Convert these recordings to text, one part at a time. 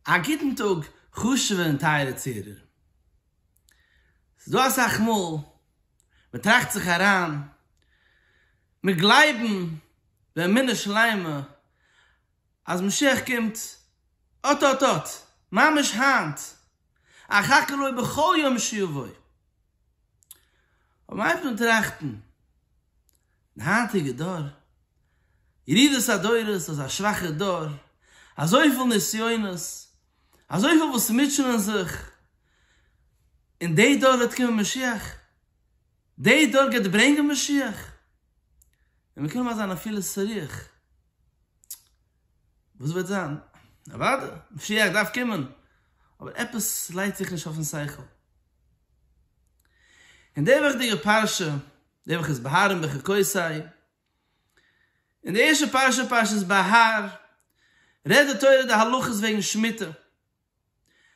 א גוטן טאג חשוב'ע און טייערע צוהערער. ס'איז דא אסאך מאל מען טראכט זיך אריין, מיר גלייבן באמונה שלימה אז משיח קומט אט אט אט, ממש היינט, אחכה לו בכל יום שיבוא. אויב מ'הייבט אן טראכטן די היינטיגע דור, ירידת הדורות, אזא שוואכער דור, אזויפיל נסיונות, אזויפיל וואס מוטשענען זיך, און די דור וועט קומען משיח? די דור גייט ברענגען משיח? און מ'קען נאכמער זיין אפילו ס'רוח. וואס וועט זיין? אוודאי, משיח דארף קומען, אבער עפעס לייגט זיך נישט אויפן שכל. אין די וואכדיגע פרשה, די וואך איז בהר און בחוקותי, אין די ערשטע פרשה, פרשת בהר, רעדט די תורה די הלכות וועגן שמיטה.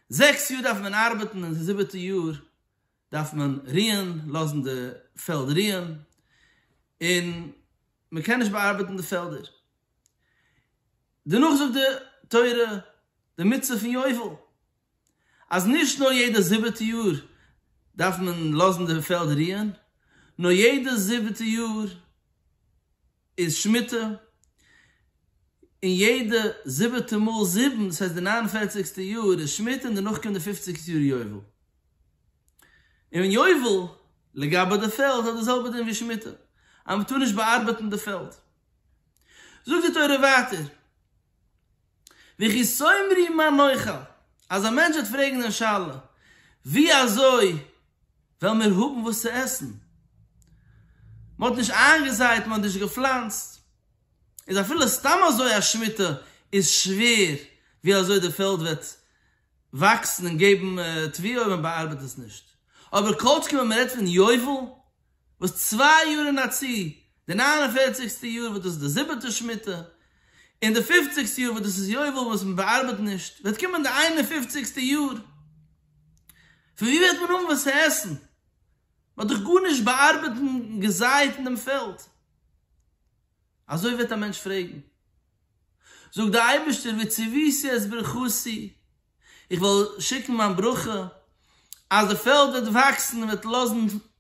זעקס יאר דארף מען ארבעטן און די זיבעטע יאר דארף מען רוען, לאזן די פעלד רוען, און מען קען נישט באארבעטן די פעלדער. דערנאך זאגט די תורה די מצוה פון יובל, אז נישט נאר יעדע זיבעטע יאר דארף מען לאזן די פעלד רוען, נאר יעדע זיבעטע יאר, איז שמיטה, און יעדע זיבעטע מאל זיבן, דאס הייסט די ניין און פערציגסטע יאר איז שמיטה און דערנאך קומט די פופציגסטע יאר יובל. און יובל, לגבי די פעלד, האט די זעלבע דין ווי שמיטה, אז מען טאר נישט באארבעטן די פעלד. זאגט די תורה ווייטער, וויכי סאומרי מה נאכל, אז א מענטש וועט פרעגן דעם שאלה ווי אזוי וועלן מיר האבן וואס צו עסן, מען האט נישט איינגעזייט, מען האט נישט געפלאנצט, איז אפילו סתם אזוי א שמיטה איז שווער ווי אזוי די פעלד וועט וואקסן און געבן תבואה אויב מען באארבעט עס נישט, אבער כל שכן ווען מען רעדט פון יובל וואס צוויי יאר אין א צו, די ניין און פערציגסטע יאר וואס דאס איז די זיבעטע שמיטה, און די פופציגסטע יאר וואס דאס איז יובל וואס מען באארבעט נישט, וועט קומען די איין און פופציגסטע יאר, פון וואו וועט מען האבן וואס צו עסן? מען האט דאך גארנישט באארבעט און געזייט אין דעם פעלד. אזוי וועט א מענטש פרעגן. זאגט דער אייבערשטער, ותבוסי את ברכתי, איך וועל שיקן מיין ברכה אז די פעלד וועט וואקסן און וועט לאזן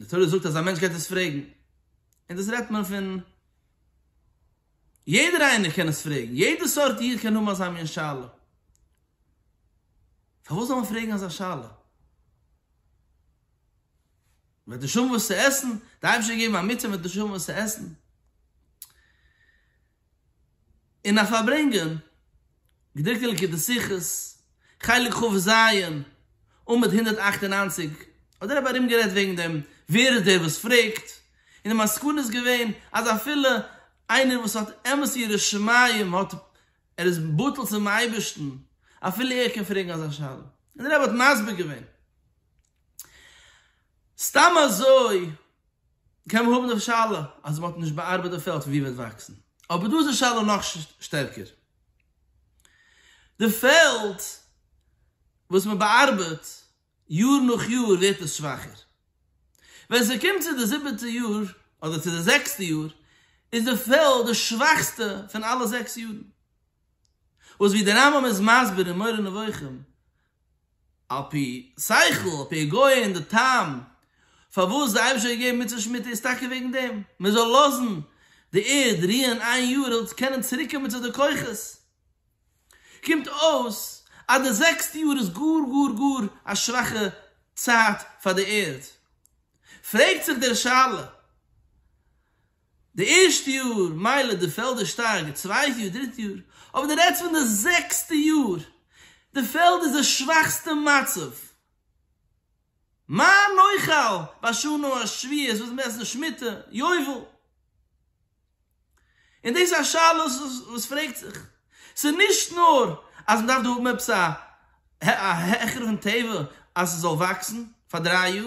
די תורה זאגט אז א מענטש גייט עס פרעגן, און דאס רעדט מען פון יעדער איינער קען עס פרעגן, יעדע סארט איד קען האבן אזא מין שאלה, פארוואס זאל מען פרעגן אזא שאלה? וועט נישט האבן וואס צו עסן? די אייבערשטער האט געגעבן א מצוה וועט נישט האבן וואס צו עסן? און א פארברענגען, געדרוקט אין ליקוטי שיחות, חלק כ ו ז, עמוד הונדערט אַכט און נײַנציק, האט דער רבי ארומגערעדט וועגן דעם, ווער איז דער וואס פרעגט, און די מסקנא איז געווען אז אפילו איינער וואס האט אמת יראת שמים האט ער איז בטל צום אייבערשטן, אפילו ער קען פרעגן אזא שאלה, און דער רבי האט מסביר געווען. סתם אזוי קען מען האבן די שאלה אז מען האט נישט באארבעט די פעלד פון ווי וועט וואקסן, אבער דא איז די שאלה נאך שטערקער, די פעלד וואס מען באארבעט יאר נאך יאר ווערט עס שוואכער, ווען ס'קומט צו די זיבעטע יאר אדער צו די זעקסטע יאר איז די פעלד די שוואכסטע פון אלע זעקס יארן, וואס ווי די רמב ם איז מסביר אין מורה נבוכים על פי שכל, על פי היגיון, די טעם פארוואס די אייבישטער האט געגעבן מצוות שמיטה איז טאקע וועגן דעם, מען זאל לאזן די ערד רוען איין יאר ער זאל קענען צוריק קומען צו די כוחות. קומט אויס אז די זעקסטע יאר איז גאר גאר גאר א שוואכע צייט פאר די ערד. פרעגט זיך דער שאלה. די ערשטע יאר מילא די פעלדער שטארק די צווייטע יאר דריטע יאר אבער די רעדסט פון די זעקסטע יאר די פעלד איז די שוואכסטע מצב מה נאכל בשנה השביעית וואס מ'עסט די שמיטה יובל און דאס איז א שאלה וואס פרעגט זיך ס'איז נישט נאר אז מ'דארף דא האבן עפעס א העכערונג טבע אז ס'זאל וואקסן פאר דריי יאר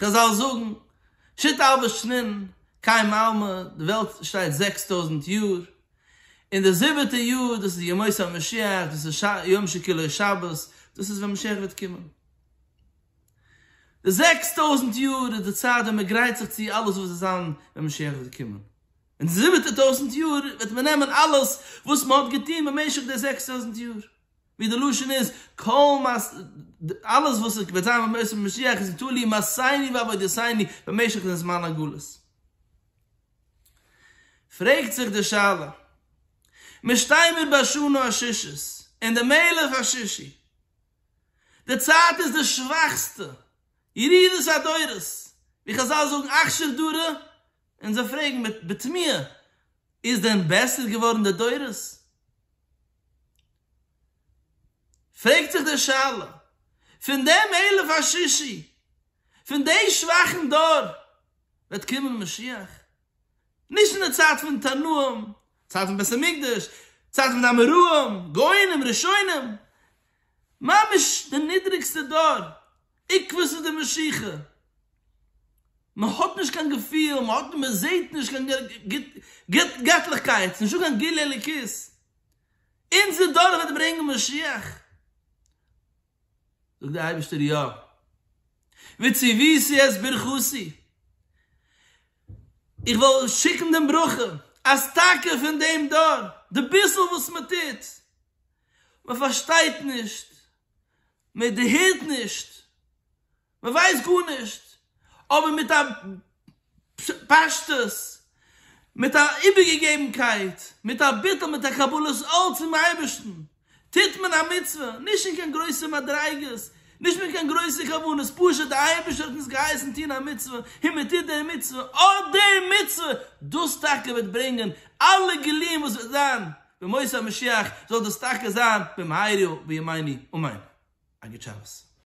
חזל זאגן, שית אלבער שנין, קאי מלמא, די וועלט שטייט זעקס טויזנט יאר, און די זיבעטע יאר דאס איז ימות המשיח, דאס איז יום שכולו שבת, דאס איז ווען משיח וועט קומען. די זעקס טויזנט יאר איז די צייט ווען מען גרייט זיך צו אלעס וואס וועט זיין ווען משיח וועט קומען. און די זיבעטע טויזנט יאר וועט מען נעמען אלעס וואס מען האט געטון במשך די זעקס טויזנט יאר, ווי די לשון איז, כל מה ש, אלעס וואס עס וועט זיין במשך משיח איז תלוי מעשינו ועבודתינו במשך דעם זמן הגלות. פרעגט זיך די שאלה, מיר שטייען מיר ביי שנה השישית, און דער מלך השישי, די צייט איז די שוואכסטע, ירידת הדורות, ווי חזל זאגן אכשר דרא, און זיי פרעגן בתמיהה, איז דען בעסער געווארן די דורות? פרעגט זיך די שאלה, פון דעם אלף השישי, פון דעי שוואכן דור וועט קומען משיח? נישט אין די צייט פון תנאים, צייט פון בית המקדש, צייט פון די אמוראים, גאונים, ראשונים, ממש די נידריגסטע דור, עיקוואס איז די משיכה? מען האט נישט קיין געפיל, מען האט, מען זעט נישט קיין גוט געטליכקייט, נישטא קיין גילוי אלוקית. אונזער דור וועט ברענגען משיח? זאגט דער אייבערשטער יא. וציוויתי את ברכתי, איך וועל שיקן דעם ברכה אז טאקע פון דעם דור, די ביסל וואס מען טוט, מען פארשטייט נישט, מען דערהערט נישט, מען ווייסט גארנישט, אבער מיט א פשטות, מיט א איבערגעגעבנקייט, מיט א ביטול, מיט א קבלת עול צום אייבערשטן, טוט מען א מצוה, נישט אין קיין גרויסע מדריגות, נישט מיט קיין גרויסע כוונות, פשוט דער אייבערשטער האט אונז געהייסן טון א מצוה, און מען טוט דער מצוה, אט דער מצוה, דאס טאקע וועט ברענגען אלע גילויים וואס וועט זיין. בימות המשיח זאל דאס טאקע זיין במהרה בימינו אמן. א גוט שבת.